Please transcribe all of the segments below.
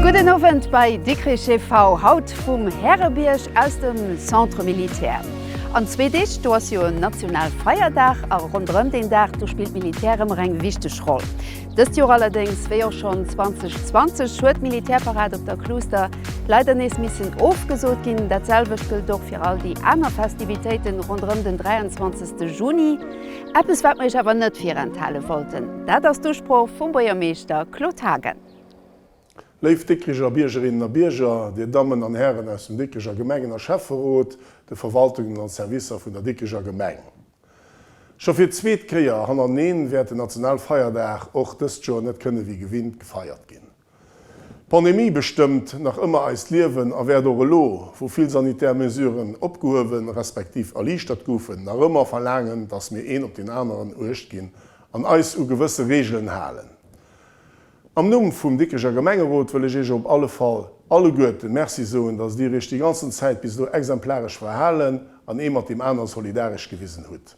Gudden Owend bei Dikrich TV, haut vum Härebierg aus dem Centre Militaire. An zwee Deeg do ass jo en national Feierdag a ronderëm deen Dag do spillt d'Militär ëmmer eng wichteg Roll. Dëst Joer allerdéngs, wéi och schonn 2020, huet d'Militärparad op der Kluuster leider nees missen ofgesot ginn. Dat selwecht gëllt och fir all déi aner Festivitéiten ronderëm den 23 Juni. Eppes wat mer iech awer net virenthale wollten, dat ass d'Usprooch vum Buergermeeschter Claude Haagen. Léif Dikricher Biergerinnen a Bierger, Dir Dammen an Hären aus dem Dikricher Gemengen a Schäfferot, de Verwaltungen an Servicer vun der Dikricher Gemeng. Scho fir d'zweet Kéier hannerneen wäert den Nationalfeierdag och dëst Joer net kënne wéi gewinnt gefeiert ginn. D'Pandemie bestëmmt nach ëmmer eist Liewen a wäert och elo, wou vill sanitär Mesuren opgehuewen, respektiv erliichtert goufen, nach ëmmer verlaangen, datt mir een op deen aneren uecht ginn an eis u gewësse Reegelen halen. Am Numm vum Dikricher Gemengerot wëll ech Iech op alle Fall alleguerten Merci soen, dass Dir Iech déi ganzen Zäit bis elo exemplaresch verhalen an ee mat deem anere solidaresch gewisen hutt.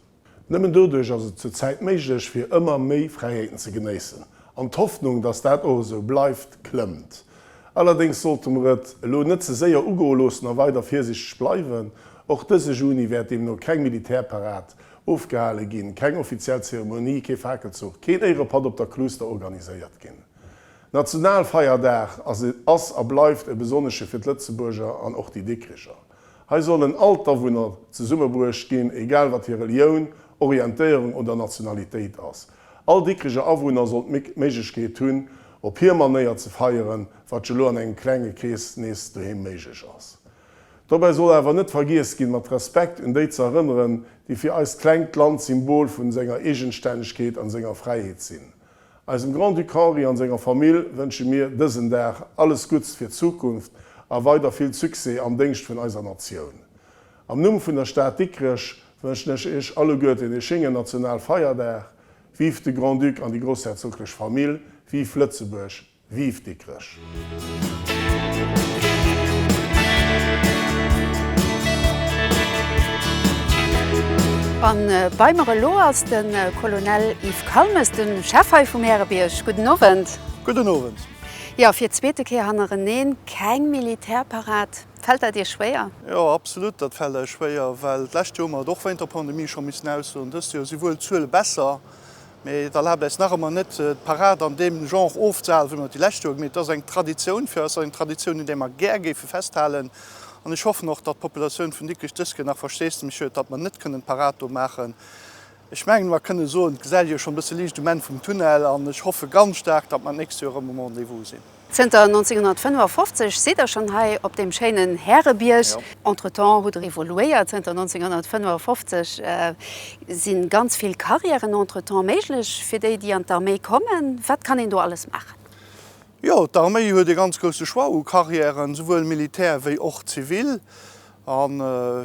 Nëmmen doduerch ass et zur Zäit méiglech, fir ëmmer méi Fräiheeten ze genéissen. An d'Hoffnung, dass dat och esou bleift, klëmmt. Allerdéngs sollte mer et elo net ze séier ugoe loossen a weider virsichteg bleiwen. Och dëse Juni wäert deemno keng Militärparad Ofgehale ginn, keng offiziell Zeremonie, kee Fakelzuch, keen Éirepatt op der Kluuster organiséiert ginn. Nationalfeierdag ass a bleift e besonnesche fir d'Lëtzebuerger an och déi Dikkricher. Hei sollen all d'Awunner zesummebruecht ginn, egal wat hir Relioun, Orientéierung oder Nationalitéit ass. All Dikkricher Awunner soll d'Méiglechkeet hunn, op hir Manéier ze feieren, wat jo elo an engem klenge Krees nees doheem méiglech ass. Dobäi soll awer net vergiess ginn, mat Respekt un déi ze erënneren, déi fir eist klengt Land d'Symbol vun senger Eegenstännegkeet an senger Fräiheet sinn. Eisem Grand-Duc Henri an senger Famill wënsche mir dësen Dag alles Gutts fir d'Zukunft a weider vill Succès am Déngscht vun eiser Natioun. Am Numm vun der Stad Dikrech wënschen ech Iech alleguerten ee schéngen Nationalfeierdag. Vive de Grand-Duc an déi Groussherzoglech Famill! Vive Lëtzebuerg! Vive Dikrech! An bei mer elo ass de Colonel Yves Kalmes, de Chef hei vum Härebierg. Gudden Owend. Gudden Owend. Jo, fir d'zweete Kéier hannereneen keng Militärparad. Fält dat Iech schwéier? Jo, absolut, dat fält eis schwéier, well d'lescht Joer mer et och wéint der Pandemie scho missen aussoen. Dëst Joer si wuel d'Zuele besser, Mee et erlaabt äis nach ëmmer net, d'Parad an deem Genre ofzehalen, wéi mer et déi lescht Joer gemeet hunn. Et ass eng Traditioun fir eis, eng Traditioun, un där mer gär géife festhalen. An ech hoffen och, datt d'Populatioun vun Dikrech dës Kéier nach Versteesdemech huet, datt mer net kënnen d'Parad do maachen. Ech mengen, mer kënne soen, et gesäit ee jo schonn e bësse Liicht um Enn vum Tunnel. An ech hoffe ganz staark, datt mer d'nächst Joer erëm um Rendez-vous sinn. Zënter 1955 sidd der schonn hei op deem schéinen Härebierg. Entretemps hutt der evoluéiert. Zënter 1955 si ganz vill Carrièren entretemps méiglech fir déi, déi an d'Arméi kommen. Wat kann een do alles maachen? Jo, d'Arméi huet e ganz grousse Choix u Carrièren, souwuel militär wéi och zivil. A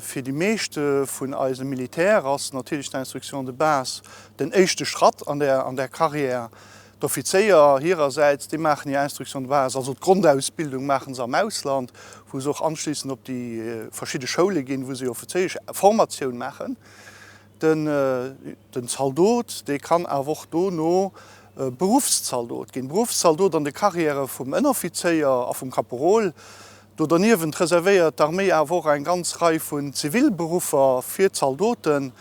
fir déi meeschte vun eise Militär ass natierlech d'Instruction de base den éischte Schratt an där Carrière. D'Offizéier hirersäits, déi maachen hir Instruction de base, also d'Grondausbildung maache se am Ausland, wou se och anschlissend op déi verschidde Schoule ginn, wou se hir offizéiesch Formatioun maachen. Den Zaldot, dee kann awer och dono Beruffszaldot ginn. Beruffszaldot an de Carrièrë vum Ënneroffizéier a vum Kaporol, Do derniewent reservéiert d'Arméi awer och eng ganz Rei vun ziville Beruffer fir d'Zaldoten.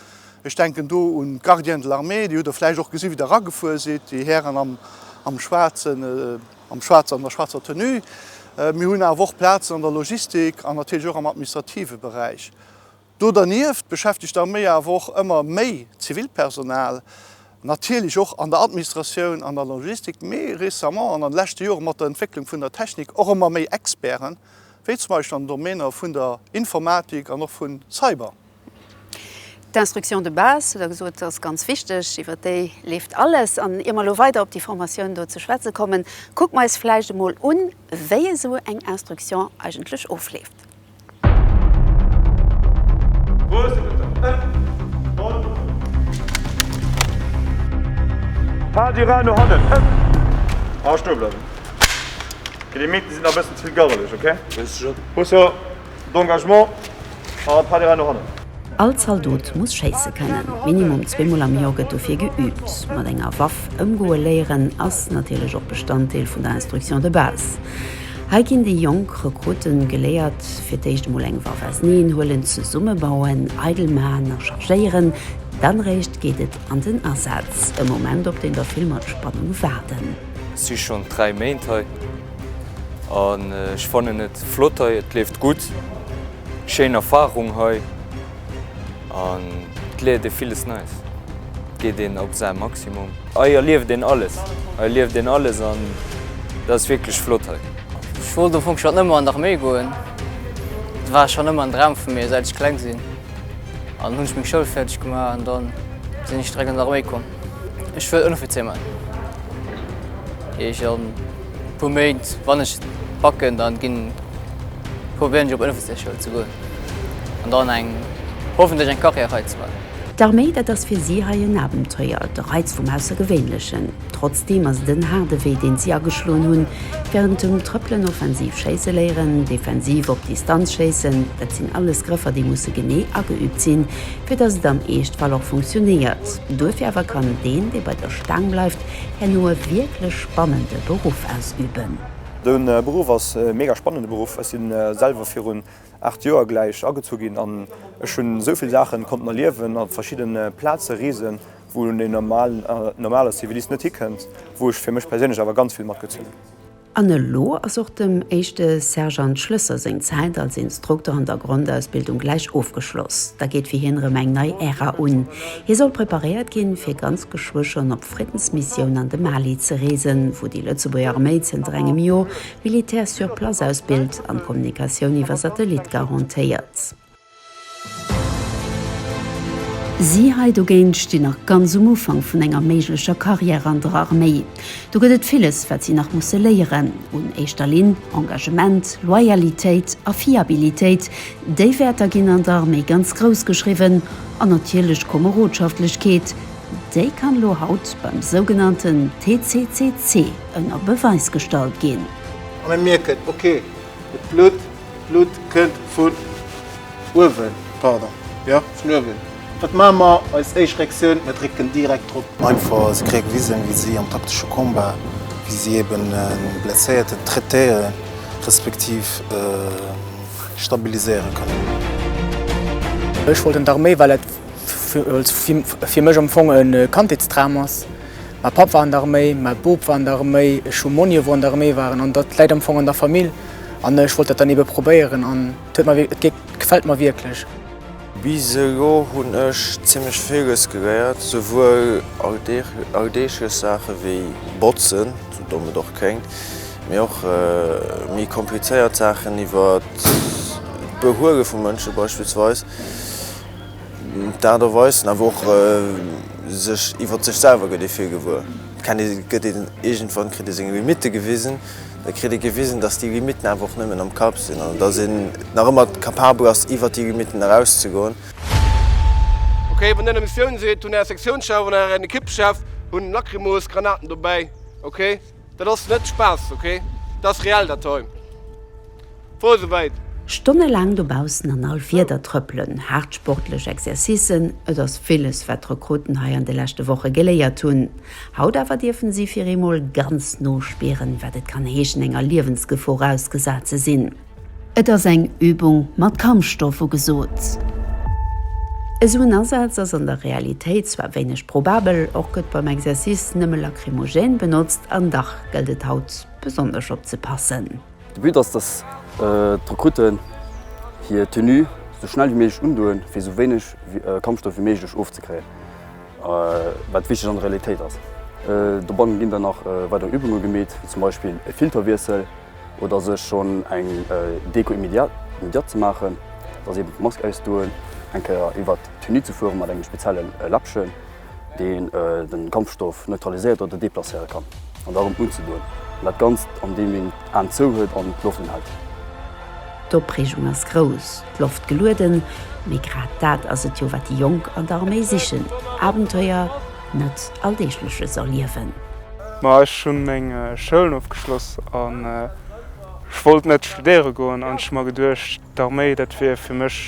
Ech denken do un d'Gardiens de l'armée, déi hutt Der vläicht och gesi wéi Der eragefuer sidd, déi Hären am am Schwaarzen, am Schwaarzen, an der schwaarzer Tenue. Mir hunn awer och Plazen an der Logistik an natierlech och am administrative Beräich. Do dernieft beschäftegt d'Arméi awer och ëmmer méi Zivilpersonal, natierlech och an der Administratioun an der Logistik, mee récemment an an de leschte Jore mat der Entwécklung vun der Technik och ëmmer méi Experten, wéi zum Beispill an den Domainer vun der Informatik an och vu Cyber. D'Instruction de base, hutt Der gesot, ass ganz wichteg. Iwwert déi leeft alles. An ier mer elo weider op déi Formatioun do ze schwätze kommen, kucke mer eis vläicht emol un, wéi esou eng Instruction eigentlech ofleeft. All Zaldot muss schéisse kënnen. Minimum zwee Mol am Joer gëtt dofir geüübt. Mat enger Waff ëmgoe léieren ass natierlech och Bestanddeel vun der Instruction de base. Hei ginn déi jonk Rekrutte geléiert, fir d'éischt emol eng Waff auseneen huelen, zesumme bauen, eidel man a chargéieren. Dann eréischt geet et an den Asaz, e Moment op deen der vill mat Spannung waarden. Ech si schonn 3 Méint hei an ech fannen et flott hei. Et leeft gutt, schéin Erfarung hei an et léiert ee villes Neies. Et geet een op säi Maximum. Hei erlieft een alles, hei erlieft een alles an dat ass wierklech flott hei. Ech wollt am Fong schonn ëmmer an d'Arméi goen. Dat war schonn ëmmer en Dram vu mir säit ech kleng sinn. An hunn ech meng Schoul fäerdeg gemaach an da sinn ech direkt an d'Arméi komm. Ech wëll Ënneroffizier man. Eech an e puer Méint wann ech et packen dann ginn probéieren ech op Ënneroffizier Schoul ze goen an dann eng hoffentlech eng Carrière hei ze man. D'Arméi, dat ass fir si hei en Abenteuer, de Reiz vum Aussergewéinlechen. Trotzdeem ass et en haarde Wee, deen si ageschloen hunn. Wärend dem Trëppelen offensiv schéisse léieren, defensiv op Distanz schéissen, dat sinn alles Grëffer, déi musse genee ageüübt sinn, fir datt et am Eeschtfall och funktionéiert. Duerfir awer kann deen, dee bei der Staang bleift, herno e wierklech spannende Beruff ausüben. De Beruff ass e mega spannende Beruff. Ech si selwer virun 8 Joer gläich agezu ginn an ech hunn esou vill Saachen konnten erliewen a verschidden Plaze reesen, wou en normale Zivilist net hikënnt, wou ech fir mech perséinlech awer ganz vill matgezunn hunn. An elo ass och dem éischte Sergeant Schlësser seng Zäit als Instruktor an der Grondausbildung gläich ofgeschloss. Da geet fir hien erëm eng nei Ära un. Hie soll preparéiert ginn, fir ganz geschwë schonn op Friddensmissioun an de Mali ze reesen, wou déi Lëtzebuerger Arméi zënter engem Joer Militär sur place aus Bild an Kommunikatioun iwwer Satellit garantéiert. Si hei dogéint stinn nach ganz um Ufank vun enger méiglecher Carrière an der Arméi. Do gëtt et villes, wat si nach musse léieren. Un éischter Linn Engagement, Loyalitéit a Fiabilitéit, déi Wäerter ginn an der Arméi ganz grouss geschriwwen. An natierlech Komerodschaftlechkeet, Déi kann elo haut beim sougenannten TCCC ënner Beweis gestallt ginn. A mir mierken, ok, et blutt, d'Blutt kënnt vun uewen, pardon, jo, vun uewen. Wat maache mer? Eis éischt Reaktioun, Mir drécken direkt drop. Einfach, si kréie gewisen, wéi si am taktesche Combat, wéi si eeben e Blesséierten traitéieren, respektiv stabiliséiere kënnen. Ech wollt un d'Arméi, well et fir mech am Fong e Kandheetsdram ass. Mäi Papp war an der Arméi, mäi Boob war an der Arméi, ech hu Monni wou an der Arméi waren an dat läit am Fong an der Famill an ech wollt dat dann ebe probéieren an et huet mer, et gefält mer wierklech. Bis elo hunn ech zimmlech villes geléiert, esouwuel alldeeglech Saache wéi botzen, sou domm et och kléngt, mee och méi komplizéiert Saachen iwwer d'Behuele vu Mënsche beispillsweis. D'Aart a Weis an awer och sech iwwer sech selwer gëtt ee vir gewuer. Kennt ee, gëtt een iergendwann, kritt ee seng Limitte gewisen. Da kritt ee gewisen, datt déi Limitten awer och nëmmen am Kapp sinn an datt een nach ëmmer capabel ass iwwer déi Limitten eraus ze goen. Ok, wann der Missioun seet, hunn är Sektiounsschef an ären Ekippschef hunn Lacrymos, Granaten, dobäi. Ok. Dat ass net Spaass ok, dat ass reell dat hei. Wor souwäit. Stonne laang dobaussen an all Wieder trëppelen, haart sportlech Exercicen, et ass villes wat d'Rekrutten hei an de leschte Woche geléiert hunn. Haut awer dierfen si fir eemol ganz no spieren wat et kann heeschen enger Liewensgefor ausgesat ze sinn. Et ass eng Übung mat Kampfstoff ugesot. Esou en Asaz ass an der Realitéit zwar wéineg probabel, och gëtt beim Exercice nëmme Lacrymogène benotzt, an dach gëllt et haut besonnesch opzepassen. De But ass, dass d'Rekruten hir Tenue esou schnell wéi méiglech undoen, fir esou wéineg Kampfstoff wéi méiglech ofzekréien, wat wichteg an der Realitéit ass. Dobanne ginn dann nach weider Übunge gemeet, wéi zum Beispill e Filterwiessel. Oder sech schonn eng Deko immédiate ze maachen, dat ass eben d'Mask ausdoen, eng Kéier iwwert d'Tenue ze fuere mat engem spezielle Läppchen, deen de Kampfstoff neutraliséiert oder deplacéiere kann, an da rëm unzedoen. An dat Ganzt an deem een d'Aen zou huet an d'Loft unhält. D'Opreegung ass grouss, d'Loft gelueden, mee grad dat ass et jo wat déi Jonk an der Arméi sichen, Abenteuer. net alldeegleches erliewen. Ma ech hunn meng Schoul ofgeschloss an ech wollt net studéiere goen an ech hu mer geduecht, d'Arméi dat wier fir mech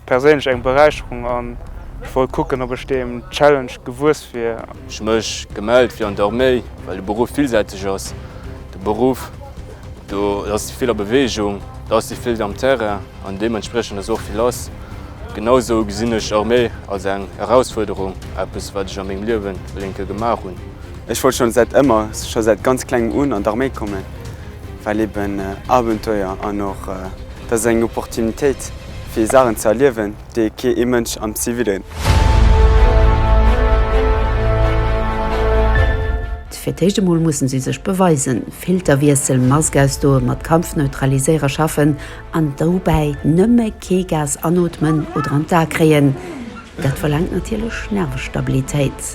perséinlech eng Beräicherung an ech wollt kucken, ob ech deem Challenge gewuess wier. Ech hu mech gemellt fir an d'Arméi, well de Beruff villsäiteg ass. De Beruff. Do ass vill a Beweegung, do si vill am Terrain an deementspriechend ass och vill lass. Genausou gesinn ech Arméi als eng Erausfuerderung, eppes wat ech a mengem Liewen e lénke gemaach hunn. Ech wollt scho säit ëmmer, scho säit ganz klengem un an d'Arméi kommen, well eben Abenteuer an och dat ass eng Opportunitéit fir Saachen ze erliewen. dee kee ee Mënsch am Zivilen. Fir d'éischt emol musse si sech beweisen, Filterwiessel, Mask ausdoen, mat Kampfneutraliséierer schaffen an dobäi nëmme kee Gas anootmen oder an d'A kréien. Dat verlaangt natierlech Nervestabilitéit.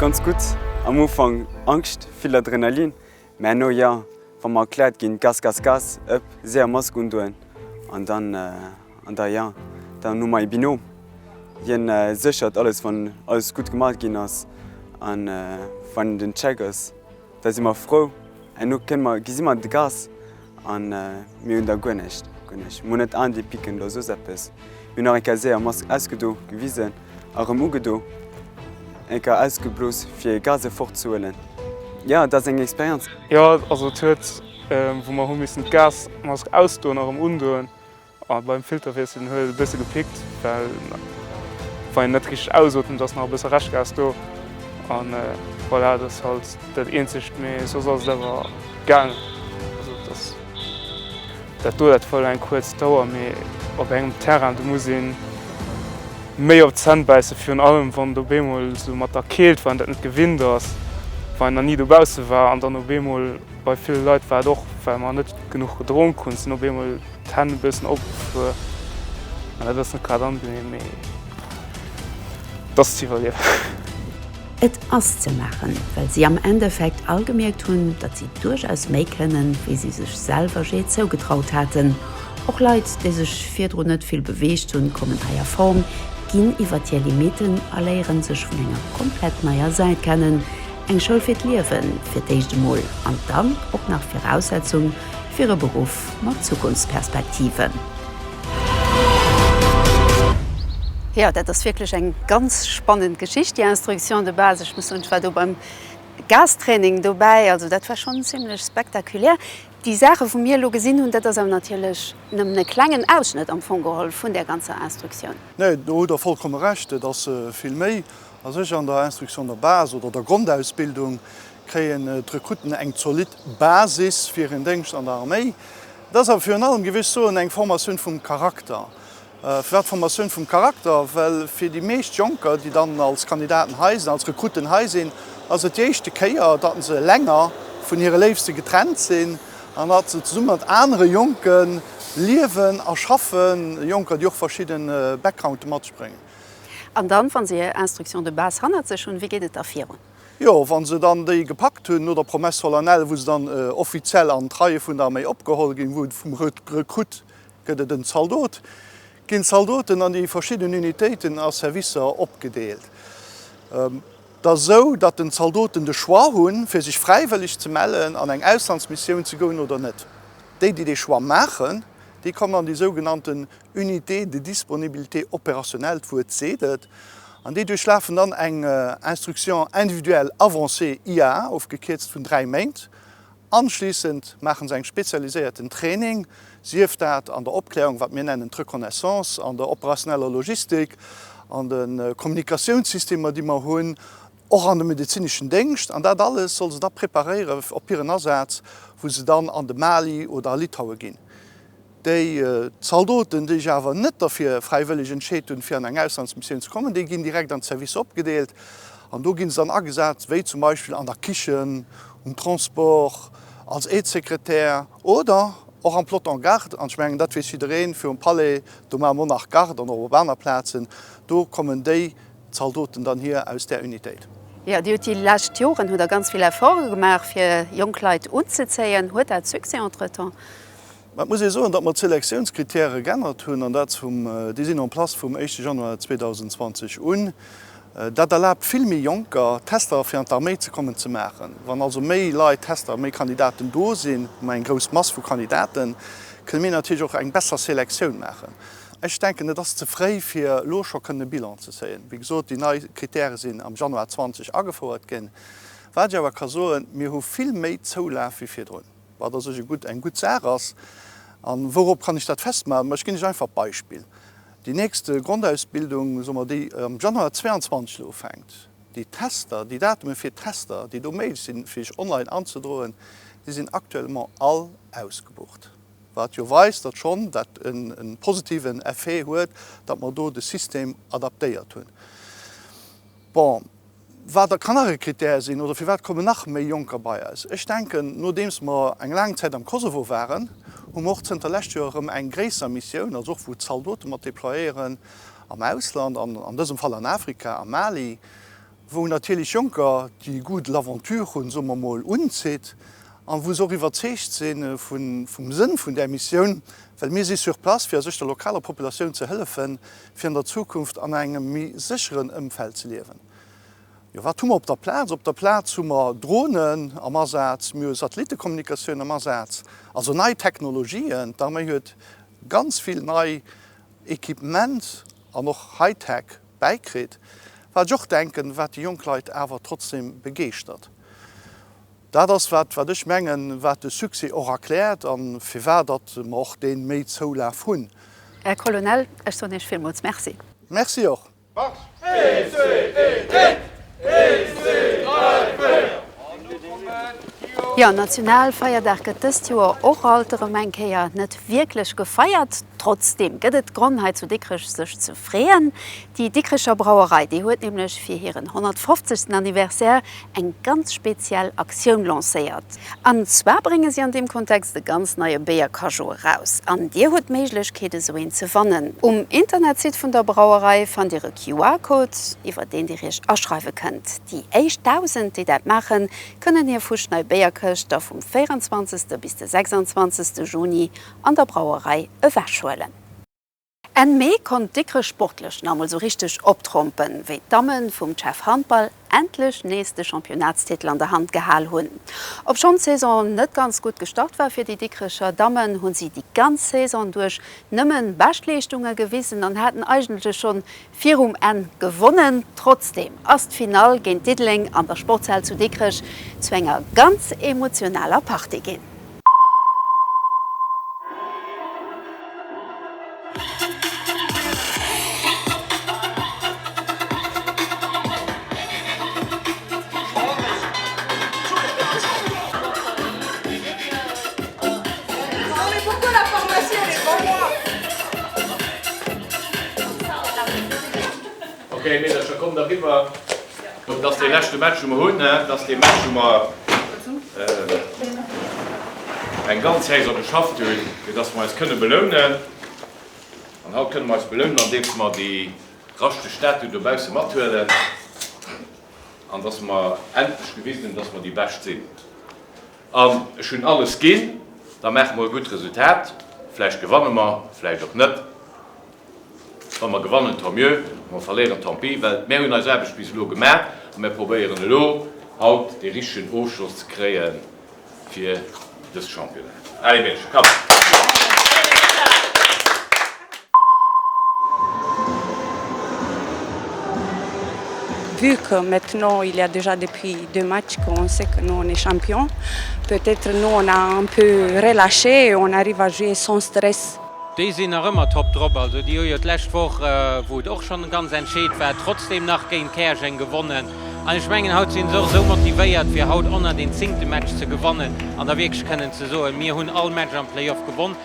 Ganz gutt, am Ufank Angscht, vill Adrenalin, mä herno jo, wa mer erkläert ginn, Gas, Gas, Gas, ëpp, séier Mask undoen an dann, an da jo, dann hu mer ee Binom, hien séchert alles, wann alles gutt gemaach ginn ass an wann den Check ass. Da si mer frou. Herno kënne mer, gesi mer de Gas a mir hunn da guer näischt, guer näischt. Mer hunn net d'Aen déi picken oder soss eppes. Mir hunn nach eng Kéier séier Mask ausgedo, gewisen a rëm ugedo. Eng Kéier ausgeblos, fir Gas erfortzehuelen. Jo, et ass eng Experienz. Jo, also et huet, wou mer hu missen d'Gasmask ausdoen a rëm undoen, Oh beim Filter wiesselen huet et e bësse gepickt well wann een net richteg ausotemt ass nach e bësse Reschgas do an voilà dat ass halt dat eenzegt mee soss ass et awer gaang. Also et ass dat do dat huet eng kuerz Dauer mee op engem Terrain do muss een méi op d'Zänn bäisse virun allem wann et op eemol esou mat der Keelt wann een dat net gewinnt ass wann een nach ni dobausse war an dann op eemol Bei ville Leit war et och, well mer net genuch gedronk hunn, sinn op eemol d'Hänn e bëssen opgefuer an dat ass net grad angenehm, mee et ass ze iwwerliewen. Et ass ze maachen, well si am Endeffekt all gemierkt hunn, datt si duerchaus méi kënnen, wéi si sech selwer jee zougetraut haten. Och Leit, déi sech virdrun net vill beweegt hunn, kommen hei a Form, ginn iwwert hir Limitten a léieren sech vun enger komplett neier Säit kennen. Eng Schoul fir d'Liewen, fir d'éischt emol, an dann och nach Viraussetzung fir e Beruff mat Zukunftsperspektiven. Jo, dat ass wierklech eng ganz spannend Geschicht, déi Instruction de base. Ech muss soen, ech war do beim Gastraining dobäi, also dat war schonn zimlech spektakulär. Déi Saache wou mir elo gesinn hunn, dat ass awer natierlech nëmmen e klengen Ausschnëtt am Fong geholl vun där ganzer Instructioun. Nee, do hutt Der vollkomme Recht, et ass vill méi. A sech an der Instruction de base oder der Grondausbildung kréien d'Rekrutten eng zolidd Basis fir hiren Déngscht an der Arméi. Et ass awer virun allem gewiescht soen eng Formatioun vum Charakter. Firwat Formatioun vum Charakter? Well fir déi meescht Jonker, déi dann als Kandidaten hei sinn, als Rekrutten hei sinn, ass et déi éischte Kéier, datt se länger vun hire Léifste getrennt sinn an datt se zesumme mat anere Jonke liewen a schaffen, Jonker, déi och verschidde Backgrounde matbréngen. An dann, wann se hir Instruction de base hannert sech hunn, wéi geet et da virun? Jo, wann se dann déi gepackt hunn, no der Promesse solennelle, wou se dann offiziell an d'Reie vun der Arméi opgeholl ginn, wou vum Rekrutt gëtt et en Zaldot, ginn d'Zaldoten an déi verschidden Unitéiten a Servicer opgedeelt. Dat ass esou, datt den Zaldoten de Choix hunn, fir sech fräiwëlleg ze mellen an eng Auslandsmissioun ze goen oder net. Déi, déi dee Choix maachen, déi kommen an déi sougenannte Unité de disponibilité opérationnelle, d'Wuert seet et, an déi duerchlafen dann eng Instruction individuelle avancée, IA, ofgekierzt vun dräi Méint. Anschlissend maache se eng spezialiséierten Training, sief dat an der Opklärung, wat mir nennen d'Reconnaissance, an der operatineller Logistik, an de Kommunikatiounssystemer, déi mer hunn, och an de medezineschen Déngscht. An dat alles soll se da preparéieren op hiren Asaz, wou se dann an de Mali oder a Litauen ginn. Déi Zaldoten, déi sech awer net derfir fräiwëlleg entscheet hunn, fir an eng Auslandsmissioun ze kommen, déi ginn direkt an d'Servicer opgedeelt. An do gi se dann agesat, wéi zum Beispill an der Kichen, um Transport, als Aide-secrétaire oder och am Peloton Garde. An ech mengen, dat weess jiddereen, virum Palais, do maache mer nach Garde an och op aner Plazen. Do kommen déi Zaldoten dann hier aus där Unitéit. Jo, Dir hutt déi lescht Joren hutt Der ganz vill Efforte gemaach, fir jonk Leit unzezéien. Huet dat Succès entretemps? Mä et muss ee soen, datt mer d'Selektiounscritèrë geännert hunn, an dat vum, déi sinn en place vum éischte Januar 2020 un. Dat erlaabt vill méi Jonker, Tester fir an d'Arméi ze kommen, ze maachen. Wann also méi Leit, Tester, méi Kandidaten do sinn, hu mer eng grouss Mass vu Kandidaten, kënne mir natierlech och eng besser Selektioun maachen. Ech denken, et ass ze fréi, fir elo scho kënnen e Bilan ze zéien. Wéi gesot, déi nei Critèrë sinn am Januar 20 agefouert ginn. Wat ech awer ka soen, Mir hu vill méi Zoulaf wéi virdrun. wat a sech e gutt, eng gutt Saach ass. A wourop kann ech dat festmaachen? Mä ech ginn lech einfach e Beispill, Déi nächst Grondausbildung, soe mer, déi am Januar 22 elo ufänkt, déi Tester, déi Datume fir d'Tester, déi do méiglech sinn, fir sech online anzedroen, déi sinn actuellement all ausgebucht. Wat jo weist, datt schonn dat e positiven Effet huet, datt mer do de System adaptéiert hunn. Bon. wat da kann nach e Krittär sinn oder firwat kommen nach méi Jonker bei eis. Ech denken, nodeems mer eng laang Zäit am Kosovo waren, hu mer och zënter lescht Joer erëm eng gréisser Missioun, also och wou d'Zaldote mat déployéieren am Ausland, an an dësem Fall an Afrika, am Mali, wou natierlech Jonker de goût de l'aventure hunn, soe mer mol, unzitt an wou se och iwwerzeegt si vum Sënn vun där Missioun, well mir si sur place, fir a sech der lokaler Populatioun ze hëllefen, fir an der Zukunft an engem méi sécheren Ëmfeld ze liewen. Jo, wat hu mer op der Plaz? Op der Plaz hu mer Dronen am Asaz, mir hu Satellittekommunikatioun am Asaz, also nei Technologien. D'Arméi huet ganz vill nei Equipement an och Hightech bäikritt, wat ech och denken, wat déi jonk Leit awer trotzdem begeeschtert. Dat ass, wat, wat ech mengen, wat de Succès och erkläert a firwat datt mer och dee méi Zoulaf hunn. Här Colonel, ech soen Iech villmools Merci. Merci och. Jo, Nationalfeierdag gëtt dëst Joer och alt erëm eng Kéier net wierklech gefeiert. Trotzdeem gëtt et Gronn hei zu Dikrech sech ze freeën. Déi Dikricher Brauerei, déi huet nämlech fir hiren 150. Anniversaire eng ganz speziell Aktioun lancéiert. An zwar brénge si an deem Kontext e ganz neie Béiercageot eraus. An dir hutt d'Méiglechkeet esou een ze wannen. Um Internetsite vun der Brauerei fannt dir e QR-Code, iwwer deen dir iech aschreiwe kënnt. Déi éischt 1.000, déi dat maachen, kënnen hir fuschnei Béierkëscht da vum 24. bis de 26. Juni an der Brauerei ewechhuelen. Enn Mee konnt Dikrech sportlech nach emol sou richteg optrompen, wéi d'Damme vum CHEV Handball endlech nees de Championatstitel an der Hand gehal hunn. Obschonn d'Saison net ganz gutt gestart war fir déi Dikrecher Dammen, hu si déi ganz Saison duerch nëmmen Beschtleeschtunge gewisen an haten eigentlech schonn virum Enn gewonnen. Trotzdeem ass d'Finall géint Diddeleng an der Sportshal zu Dikrech zu enger ganz emotionaler Partie ginn. Ok Meedercher kommt eriwwer. Bon dass dee leschte Match wou mer hunn hein, dass dee Match wou mer eng ganz Saison geschafft hunn fir dass mer eis kënne belounen. An haut kënne mer eis belounen andeems mer déi raschteg Statue dobausse mathuelen an dass mer endlech gewisen hunn dass mer déi Bescht sinn. An ech hunn alles ginn, da maache mer e gutt Resultat. Vläicht gewanne mer, vläicht och net. Wa mer gewannen, tant mieux, wa mer verléieren, tant pis. Well mär hunn eis Aarbecht bis elo gemaach a mär probéieren elo haut dee richtegen Ofschloss ze kréie fir dës Championnat. Allez Belge, kapp! Vu que maintenant il ya dejà depuis deux matchs qu'on sait que nous on est champion, peut être nous on a un peu relaché et on arrive à jouer sans stress. Déi sinn nach ëmmer top drop. Also déi hu jo d'lescht Woch, wou et och schonn ganz entscheet war, trotzdeem nach géint Käerjeng gewonnen. An ech mengen, haut sinn se och esou motivéiert, fir haut 110. Match ze gewannen an da wierklech kënnen ze soen, mir hunn all Match am Playoff gewonn.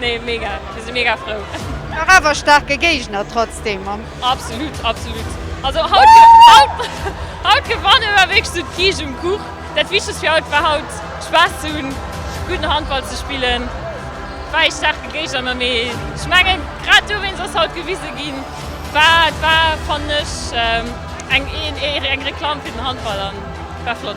Nee mega, mir si mega frou. Nach awer staarke Géigner trotzdem am. Absolut, absolut. Also haut gewannen war wierklech sou d'Kiischt um Kuch. Dat wichtegst fir haut war haut Spaass ze hunn, gudden Handball ze spillen. War ee staarke Géigner ma mee ech mengen grad dowéinst ass haut gewise ginn war war fannen ech eng Reklamm fir den Handball an war flott.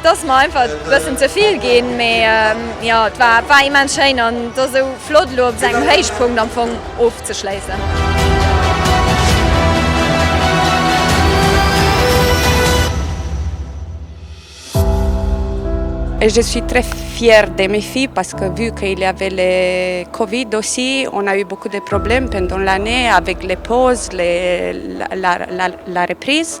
Et ass mer einfach e bëssen ze vill ginn, mee jo, et war war immens schéin an et ass esou flott elo op esou engem Héichpunkt am Fong ofzeschléissen. Et je suis très fière de mes filles parce que vu qu'il y avait le covid aussi on a eu beaucoup de problèmes pendant l'année avec les pauses les la la la reprise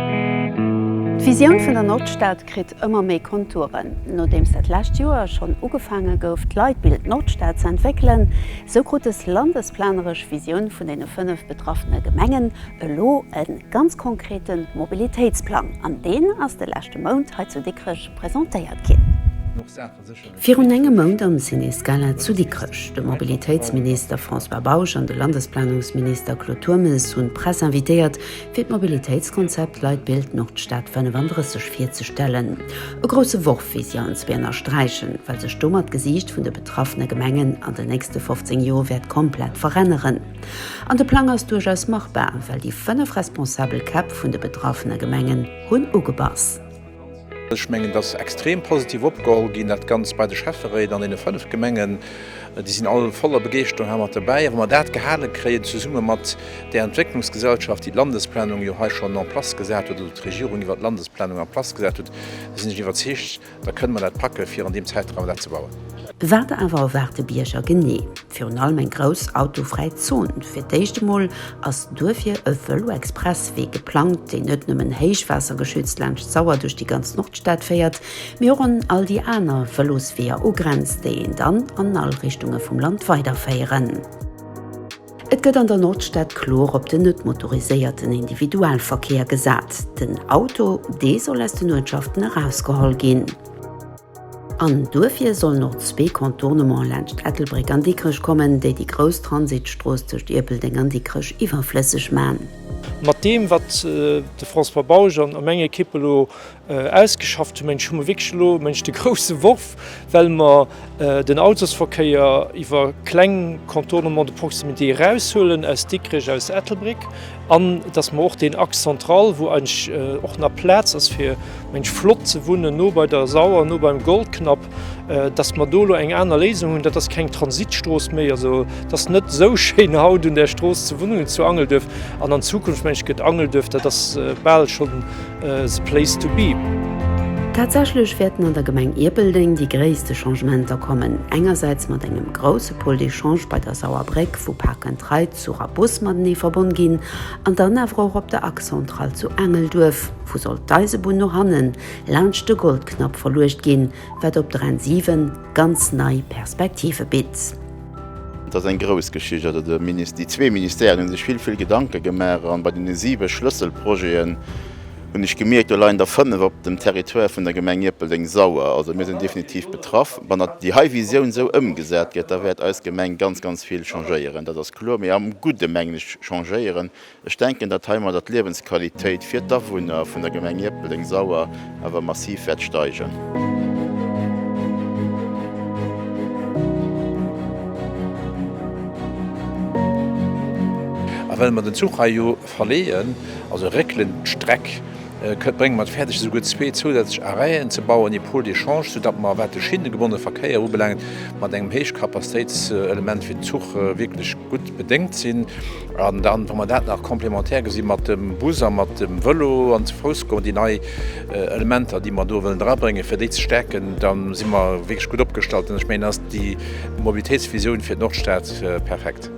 D'Visioun vun der Nordstad kritt ëmmer méi Konturen. Nodeems dat lescht Joer schonn ugefaange gouf d'Leitbild Nordstad ze entwéckelen, esou krut des landesplaneresch Visioun vun deene fënnef betraffene Gemengen elo e ganz konkrete Mobilitéitsplang an deen ass de leschte Mount hei zu Dikrech presentéiert ginn. Virun engem Mount am Ciné Scala zu Dikrech. De Mobilitéitsminister François Bausch an de Landesplanungsminister Claude Turmes hunn d'Press invitéiert, fir d'Mobilitéitskonzept Leitbild Nordstad 35 virzestellen. E grousse Worf, wéi si anzwee ënnersträichen, well sech domat d'Gesiicht vun de betraffene Gemengen an den nächste 15 Joer wäert komplett veränneren. An de Plang ass duerchaus machbar, well déi fënnef responsabel Käpp vun de betraffene Gemengen hunn ugebass. Ech mengen, dass extrem positiv opgeholl ginn, dat Ganzt bei de Schäfferéit an deene fënnef Gemengen. Déi sinn all voller Begeeschterung hei mat dobäi. A wa mer dat gehale kréien, zesumme mat där Entwécklungsgesellschaft, déi d'Landesplanung jo hei schonn en place gesat huet oder d'Regierung iwwert d'Landesplanung en place gesat huet, da sinn ech iwwerzeegt, da kënnen mer dat packe fir an deem Zäitraum dat ze bauen. Wat awer erwaart de Bierger genee? Virun allem eng grouss autofräi Zon. Fir d'éischt emol ass duerfir e Vëlo-Expresswee geplangt, deen net nëmmen héichwaassergeschützt laanscht d'Sauer duerch déi ganz Nordstad féiert, mee och un all déi aner Vëlosweeër ugrenzt, déi een dann an all Richtunge vum Land weiderféieren. Et gëtt an der Nordstad kloer op den net motoriséierten Individualverkéier gesat. Den Auto, dee soll aus den Uertschaften erausgeholl ginn. An duerfir sollen och zwee Contournement laanscht Ettelbréck an Dikrech kommen, déi déi grouss Transitstrooss tëscht Ierpeldeng an Dikrech iwwerflësseg man. Mat deem, wat de François Bausch an meng Ekipp elo ausgeschafft hunn, mengen ech, hu mer wierklech elo, mengen ech, de grousse Worf, well mer den Autosverkéier iwwer kleng Contournements de proximité eraushuelen aus Dikrech, aus Ettelbréck. An dass mer och deen Axe central, wou eigentlech och nach Plaz ass, fir eigentlech flott ze wunnen, no bei der Sauer, no beim Goldknapp, dass mer do elo eng aner Léisung hunn. Dat ass keng Transitstrooss méi. Also et ass net esou schéin haut un där Strooss ze wunnen, zu Angelduerf. An an Zukunft, meng ech, gëtt Angelduerf, dat ass bal schonn the place to be. Tatsächlech wäerten an der Gemeng Ierpeldeng déi gréisste Changementer kommen, engersäits mat engem grousse Pôle d'échange bei der Sauerbréck, wou Park and Ride, zu Rabus matenee verbonn ginn, an dann awer och op der Axe centrale zu Engelduerf, vu sollt d'Eisebunn no hannen laanscht de Goldknapp verluecht ginn, wat op der N 7 ganz nei Perspektive bitt. Et ass eng grouss Geschicht, also de Minis, déi zwee Ministèren hu sech vill, vill Gedanke gemaach, a bei deene siwe Schlësselprojeten, hunn ech gemierkt, do leien der fënnef op dem Territoire vun der Gemeng Ierpeldeng-Sauer. Also mir sinn definitiv betraff. Wann déi hei Visioun esou ëmgesat gëtt, da wäert eis Gemeng ganz, ganz vill changéieren, dat ass kloer, mee am Gudde mengen ech. Changéieren, ech denken, datt heimadder d'Liewensqualitéit fir d'Awunner vun der Gemeng Ierpeldeng-Sauer awer massiv wäert steigen. A well mer den Zuch hei jo. Verleeën, also réckelen, d'Streck brénge mer et fäerdeg, esouguer zwee zousätzlech Arrêten ze bauen, ee Pôle d'échange, soudatt mer, wat de schinnegebonnene Verkéier ubelaangt, mat engem Héichkapazitéitselement fir den Zuch wierklech gutt bedéngt sinn. An dann, wa mer dat nach complémentaire gesi mat dem Bus a mat dem Vëlo an ze Fouss goen, déi nei Elementer, déi mer do wëllen drabréngen, fir déi ze stäerken, da si mer wierklech gutt opgestallt. An ech mengen, da ass déi Mobilitéitsvisioun fir d'Nordstad perfekt.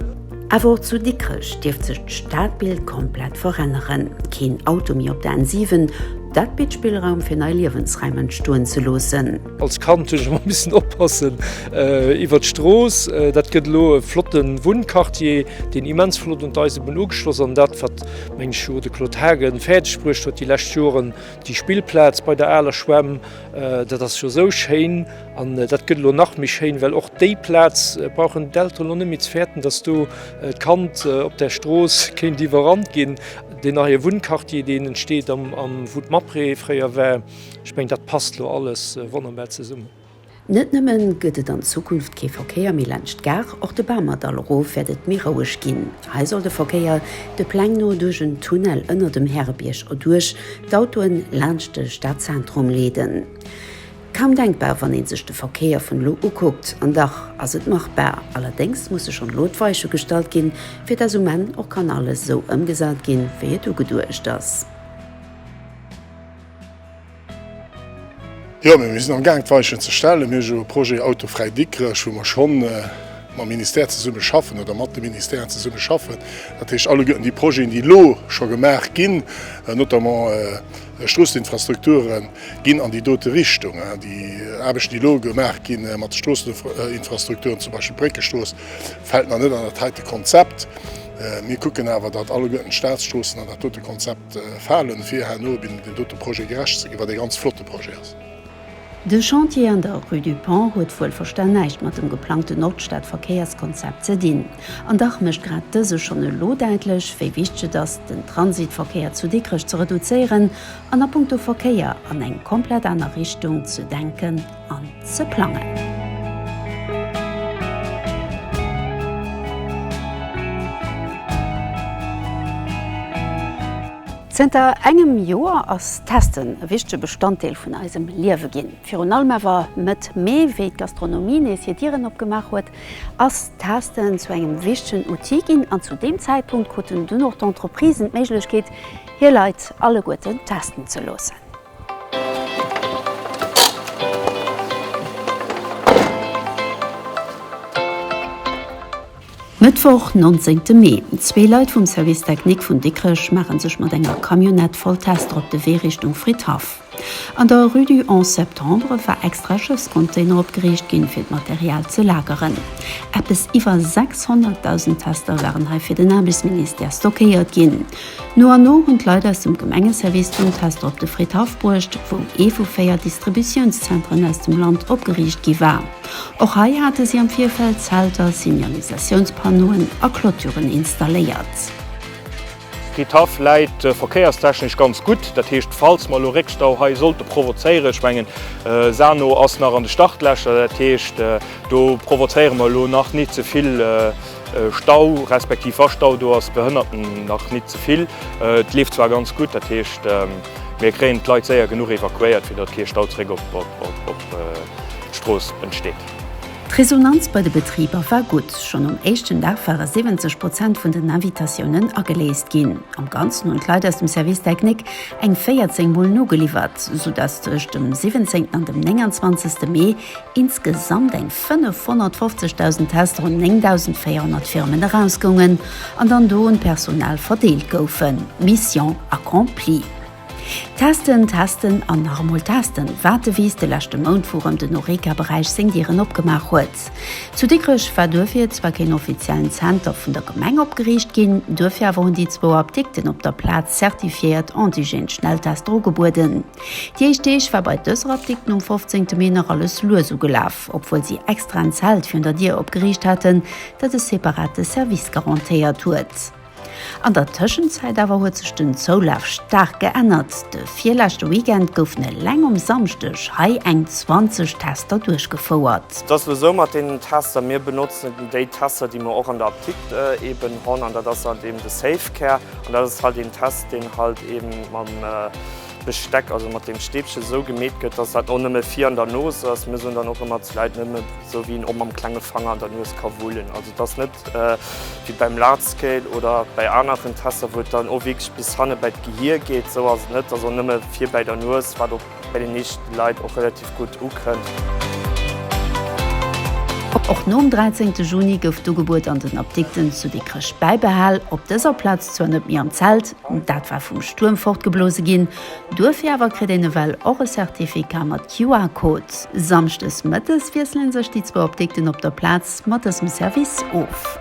Awer och zu Dikrech dierft sech d'Stadbild komplett veränneren. Keen Auto méi op der N7, dat bitt Spillraum fir nei Liewensraim entstoen ze loossen. Als Kand hunn ech ëmmer missen oppassen iwwert d'Strooss. Dat gëtt elo e flotte Wunnquartier, deen immens flott un d'Eisebunn ugeschloss an dat wat meng Show de Claude Haagen fäerdeg bruecht huet déi lescht Joren, déi Spillplaz bei der aler Schwämm, dat ass jo esou schéin. An dat gëtt elo nach méi schéin, well och déi Plaz brauchen d'Elteren elo net méi ze fäerten, datt do d'Kand op der Strooss kéint iwwerrannt ginn. Deen neie Wunnquartier, deen entsteet am wou d'Mapre fréier war, ech mengen, dat passt elo alles wonnerbar zesummen. Net nëmme gëtt et an Zukunft kee Verkéier méi laanscht d'Gare, och de Bamerdall erof wäert et méi roueg ginn. Hei soll de Verkéier de Pläng no duerch en Tunnel ënner dem Härebierg erduerch d'Autoen laanscht de Stadzentrum leeden. Kaum denkbar, wann ee sech de Verkéier vun elo ukuckt. An dach ass et machbar. Allerdéngs musse schonn elo d'Weiche gestallt ginn, fir dass um Enn och kann alles esou ëmgesat ginn, wéi et ugeduecht ass. Jo, mee mir sinn am Gaang d'Weichen ze stellen. Mir hu jo e Projet autofräi Dikrech, wou mer schonn mam Ministère zesumme schaffen oder mat de Ministèren zesumme schaffen. Dat heescht, alleguerten déi Projeten, déi elo scho gemaach ginn, notamment, Stroosseninfrastrukture ginn an déi dote Richtung. Déi Aarbechten, déi elo gemaach gi mat de Stroosseninfrastrukturen, zum Beispill d'Bréckestrooss, fält nach net an dat heite Konzept. Mir kucken awer, datt alleguerten d'Statsstroossen an dat dote Konzept falen, fir herno dem dote Projet gerecht ze ginn, wat ee ganz flotte Projet ass. De Chantier an der Rue du Pont huet wuel versta näischt mat dem geplangten Nordstadverkéierskonzept ze dinn. An dach mécht grad dëse schonn elo däitlech, wéi wichteg et ass, den Transitverkéier zu Dikrech ze reduzéieren an a punkto Verkéier an eng komplett aner Richtung ze denken an ze plangen. Zënter engem Joer ass d'Testen e wichtege Bestanddeel vun eisem Liewe ginn. Virun allem awer Mëtt Mee, wéi d'Gastronomie nees hir Dieren opgemaach huet, ass d'Testen zu engem wichtegen Outil ginn an zu deem Zäitpunkt kruten dunn och d'Entreprisen d'Méiglechkeet, hir Leit alleguerten testen ze loossen. Mëttwoch, nonzéngte Mee, Zwee Leit vum Service Technique vun Dikrech maache sech mat enger Camionnette voll Tester op de Wee Richtung Fridhaff. An der Rue du 11 Septembre war extra Schësscontainer opgeriicht ginn, fir d'Material ze lageren. Eppes iwwer 600.000 Tester waren hei fir den Aarbechtsministère stockéiert ginn. No an no hunn d'Leit aus dem Gemengeservice dunn d'Tester op de Fridhaff bruecht, wou ee vu véier Distributiounszenteren aus dem Land opgeriicht gi war. Och hei hate si am Virfeld Zelter, Signalisatiounspannoen a Clôturen installéiert. Fridhaff läit verkéierstechnesch ganz gutt, dat heescht, falls mer elo Réckstau hei sollte provozéieren, ech mengen Sarno ass nach an de Startlächer, dat heescht, do provozéiere mer elo nach net ze vill Stau respektiv wa Stau do ass, Behënnerten nach nit ze vill. Et leeft zwar ganz gutt, dat heescht mir kréien d'Leit séier genuch evakuéiert, fir datt kee Stau zréck op d'Strooss entsteet. D'Resonanz bei de Betriber war gutt. Schonn um éischten Dag ware 70 Prozent vun den Invitatiounen ageléist ginn. Am Ganzen hunn d'Leit aus dem Service technique eng 14 Mol nogeliwwert, soudatt tëscht dem 17 an dem 29 Mee Insgesamt eng 550.000 Tester un 9.400 Firmen erausgoungen an dann do un d'Personal verdeelt goufen. Mission accomplie! Testen, testen an nach emol testen, wat de Wiis de leschte Mount vu rëm den Horeca-Beräich seng Dieren opgemaach huet. Zu Dikrech war duerfir zwar keen offiziellen Zenter vun der Gemeng opgeriicht ginn, duerfir awer hunn déi zwou Apdikten op der Plaz zertifiéiert Antigen-Schnelltester ugebueden. Déi éischt Deeg war bei dëser Apdikten um 15 Mee nach alles lues ugelaf, obwuel si extra en Zelt virun der Dier opgeriicht haten, dat e separate Service garantéiert huet. An der Tëschenzäit awer huet sech den Zoulaf staark geännert. De virleschte Weekend goufen eleng um Samschdeg hei eng 20 Tester duerchgefouert. Et ass elo esou mat deenen Tester, mir benotzen déi Tester, déi mir och an der Apdikt eeben honn, an dat ass halt eeben de Safe Care, an dat ass halt een Test, deen halt eeben mam. Besteck, also mat deem Stäbchen esou gemeet gëtt, dass dat och nëmme vir an der Nos ass. Mir soen dann och ëmmer d'Leit, nëmme esou wéi een och mam klenge Fanger an der Nues ka wullen. Also et ass net wéi beim Lardscale oder bäi aneren Tester, wou et dann och wierklech bis hanne bäi d'Gehir geet. Esou ass et net, et ass och nëmme vir bäi der Nues, wat och bei de meeschte Leit och relativ gutt ukënnt. Och nom 13 Juni gouf d'Ugebuet an den Apdikten zu Dikrech bäibehal, op dëser Plaz zwar net méi am Zelt, Dat war vum Stuerm fortgeblose ginn. Duerfir awer kritt een ewell och e Certificat mat QR-Code. Samschdes mëttes wiesselen sech déi zwou Apdikten op der Plaz mat dësem Service of.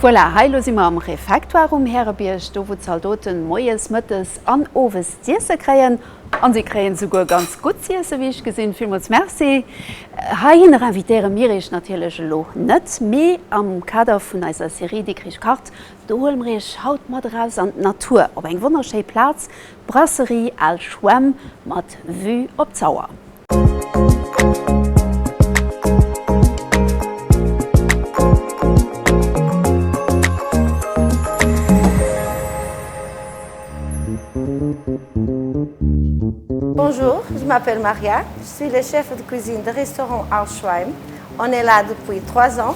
Voilà, hei elo si mer am Refectoire um Härebierg, do wou d'Zaldoten moies, mëttes an owes z'iesse kréien. An si kréien souguer ganz gutt z'iesse wéi ech gesinn. Villmools Merci. Heihinner invitéiere mir iech natierlech elo net, mee am Kader vun eiser Serie Dikrich kacht Do huele mer iech haut mat eraus an d'Natur op eng wonnerschéi Plaz, d'Brasserie Al Schwemm mat Vue op d'Sauer. Bonjour, je m'appelle Maria, je suis le chef de cuisine de restaurant Al Schweim. On est là depuis trois ans.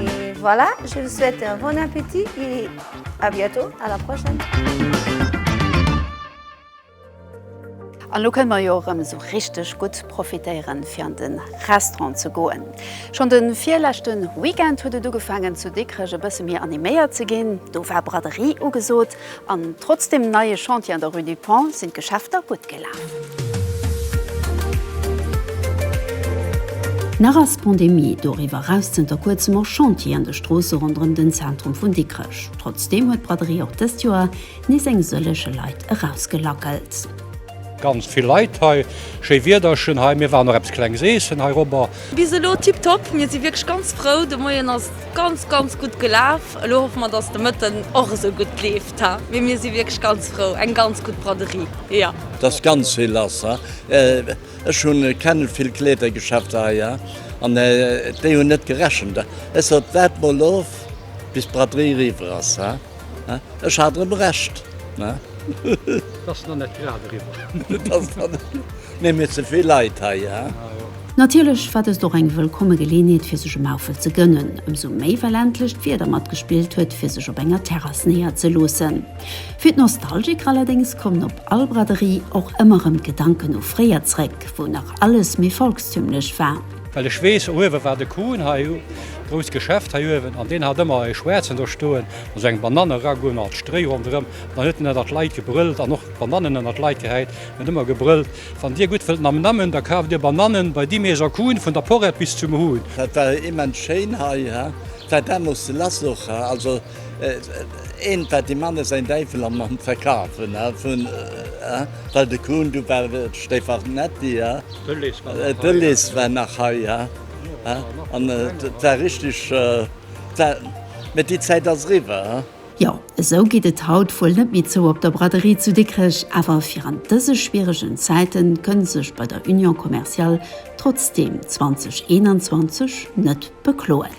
Et voilà, je vous souhaite un bon appétit et à bientôt, à la prochaine. An lo kënne mer jo erëm esou richteg gutt profitéieren, fir an de Restaurant ze goen. Schonn de virleschte Weekend huet et ugefaangen, zu Dikrech e bësse méi animéiert ze ginn. Do war Braderie ugesot. An trotz dem neie Chantier an der Rue du Pont sinn d'Geschäfter gutt gelaf. Nach ass d'Pandemie doriwwer eraus zënter kuerzem och Chantier an de Stroosse ronderëm den Zentrum vun Dikrech. Trotzdeem huet d'Braderie och dëst Joer nees eng sëllege Leit erausgelackelt. Ganz vill Leit hei, schéi Wiederchen hei, mir waren och eppes klenges eessen hei robber. Bis elo tiptop, mir si wierklech ganz frou. De Moien ass ganz ganz gutt gelaf, elo hoffe mer dass de Mëtten och esou gutt leeft ha, mee mir si wierklech ganz frou, eng ganz gutt Braderie jo. T'ass ganz vill lass ha, ech hunn kennen vill Kleedergeschäfter hei ha, an déi hunn net gerechent, ech sot waart mol of bis d'Braderie eriwwer ass ha. Ech hat erëm Recht, ne? Et ass nach net grad eriwwer. Et ass nach net grad. Mir hunn jo ze vill Leit hei, ja. Natierlech war dëst och eng wëllkomme Geleeënheet fir sech e Maufel ze gënnen, ëmsou méi well endlech d'Wieder matgespillt huet fir sech op enger Terrass néier ze loossen. Fir d'Nostalgiker allerdéngs kommen op all Braderie och ëmmer erëm d'Gedanken u fréier zréck, wou nach alles méi volkstümlech war. Well ech weess, uewen war de Kuhn, hei e grousst Geschäft hei uewen, an deen hat ëmmer e schwaarzen do stoen, also eng Banann eragoen, mat Stréi ronderëm, an dann huet en ënnert d'Leit gebrëllt an och d'Banannen ënnert d'Leit gehäit. En huet ëmmer gebrëllt, Wann dir gutt wëllt Nam Nam hunn, da kaaft dir Banannen bei di Maison Kuhn, vun der Porrett bis zum Huhn. Dat war immens schéin hei, he? War deemools de Lass och, he? Also, eent war dem Manne säin Däiwel am Verkaf, he? Well de Kuhn, du war de Stefannetti, ja? D'Ulysse war nach hei, ja? An et war richteg, mä déi Zäit ass eriwwer, ja? Jo, esou geet et haut wuel net méi zou op der Braderie zu Dikrech, awer virant dëse schwieregen Zäiten kënnt sech bei der Union Commerciale trotzdeem 2021 net bekloen.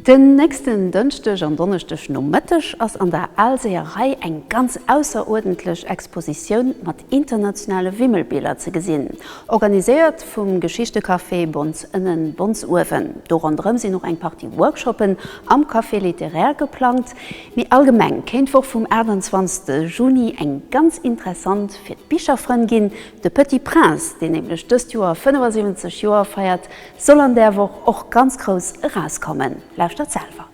Den nächsten Dënschdeg an Donneschdeg Nomëtteg ass an der Alséerei eng ganz ausseruerdentlech Expositioun mat internationale Wimmelbiler ze gesinn, organiséiert vum Geschichtecafé Bons Ënnen, Bons Uewen. Do ronderëm sinn och eng Partie Workshoppen am Café littéraire geplangt. Méi allgemeng kéint d'Woch vum 28 Juni eng ganz interessant fir d'Bicherfrënn ginn, De Petit Prince, deen nämlech dëst Joer 75 Joer feiert, Soll an där Woch och ganz grouss erauskommen. Lauschtert selwer.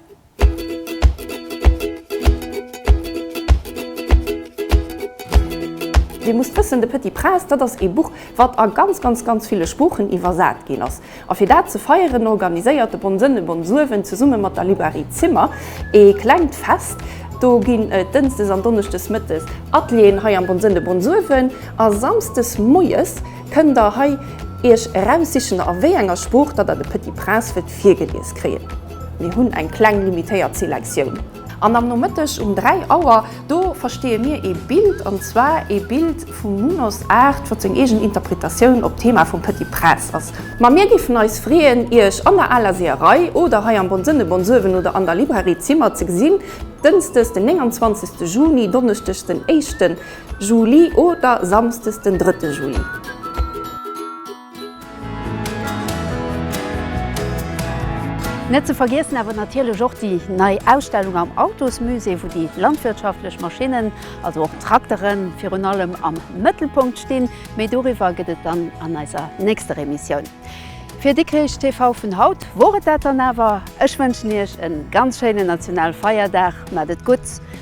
Dir musst wëssen, De Petit Prince, dat ass ee Buch, wat a ganz, ganz, ganz ville Sproochen iwwersat ginn ass. A fir dat ze feieren, organiséiert de Bonn-Sënn e Bonnsuewen zesumme mat der Librairie Zimmer ee klengt Fest. Do ginn et dënschdes an donneschdes mëttes Atelieren hei am Bonn-Sënn, de Bonnsuewen, a samschdes moies. Kënnt der hei iech eraussichen a wéi enger Sprooch datt der de Petit Prince wëllt virgelies kréien. Mir hunn eng kleng limitéiert Selektioun. An am Nomëtteg um 3 Auer, do versteeë mir ee Bild, an zwar ee Bild vum Munos Art, wat seng eegen Interpretatioun op d'Thema vum Petit Prince ass. Ma mir géifen eis freeën iech an der Aler Seeërei oder hei am Bonsënne Bonsuewen oder an der Librairie Zimmer ze gesinn, Dënsdes den 29 Juni, Donneschdeg den éischten Juli oder Samsdes den 3 Juli. Net ze vergiessen awer natierlech och déi nei Ausstellung am Autosmusée, wou déi landwirtschaftlech Maschinnen, also och Trakteren, virun allem am Mëttelpunkt stinn. Méi doriwwer gëtt et dann an eiser nächster Emissioun fir Dikrich TV. Vun haut wor et dat dann awer. Ech wënschen Iech e ganz schéinen Nationalfeierdag, mat et gutt